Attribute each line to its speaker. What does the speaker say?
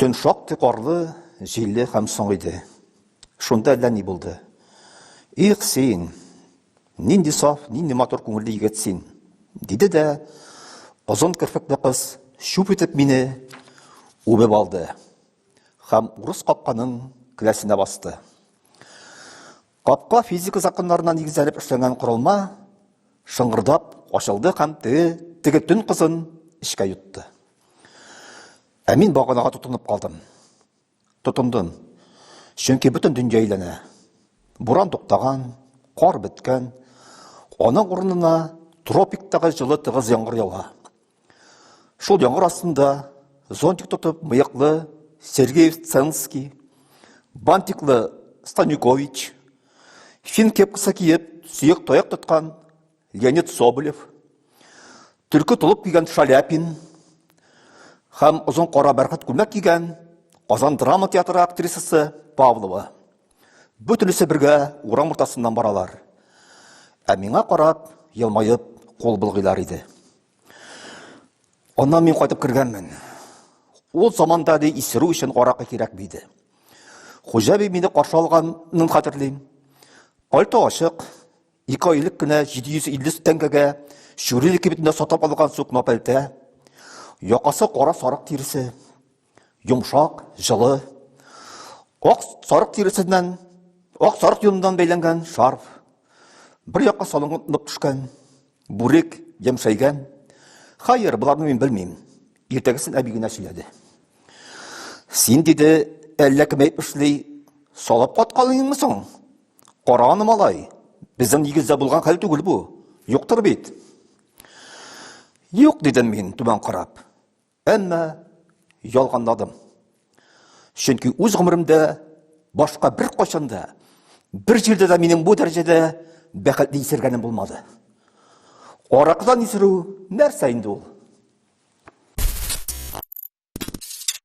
Speaker 1: Төн шактый карлы, җилле һәм соң иде. Шунда әллә ни булды. Их син, нинди саф, нинди матур күңелле егет син, диде дә озын керфекле кыз шуп итеп мине үбеп алды һәм урыс капканың келәсенә басты. Капка физика законнарына нигезләнеп эшләнгән корылма шыңгырдап ачылды һәм теге теге төн кызын эчкә йотты. Ә мин баганага тотынып калдым. Тотындым. Чөнки бөтен дөнья әйләнә. Буран туктаган, кар беткән. Аның урынына тропиктагы җылы тыгыз яңгыр ява. Шул яңгыр астында зонтик тотып мыяклы Сергеев Ценский, бантиклы Станюкович, фин кепкасы киеп, сөек таяк тоткан Леонид Соболев, төлке толып кигән Шаляпин һәм озын кара бәрхәт күлмәк кигән Казан драма театры актрисасы Павлова. Бөтенесе бергә урам уртасыннан баралар. Ә миңа карап, елмаеп, кул булгыйлар иде. Аннан мин кайтып кергәнмен. Ул заманда ди исерү өчен аракы кирәк биде. Хуҗа би мине каршы алганын хәтерлим. Пальто ачык, ике айлык кенә 750 тәңгәгә Чүриле кибетендә сатып алган сукно пәлтә, якасы кара сарык тиресе. Йомшак, җылы, ак сарык тиресеннән, ак сарык юныннан бәйләнгән шарф, бер якка салынып төшкән, бүрек, ямшәйгән. Хәер, боларны мин белмим. Иртәгесен әби генә сөйләде. Син диде, әллә кем әйтеп эшли, салып каткалыйңмы соң? Кара аны, малай. Безнең нигездә булган хәл түгел бу. Юктыр бит. Юк, дидем мин, түбән карап. Әмма ялганладым. Чөнки үз гомеремдә башка бер кайчан да, бер җирдә дә минем бу дәрәҗәдә бәхетле исергәнем булмады. Аракыдан исерү нәрсә инде ул?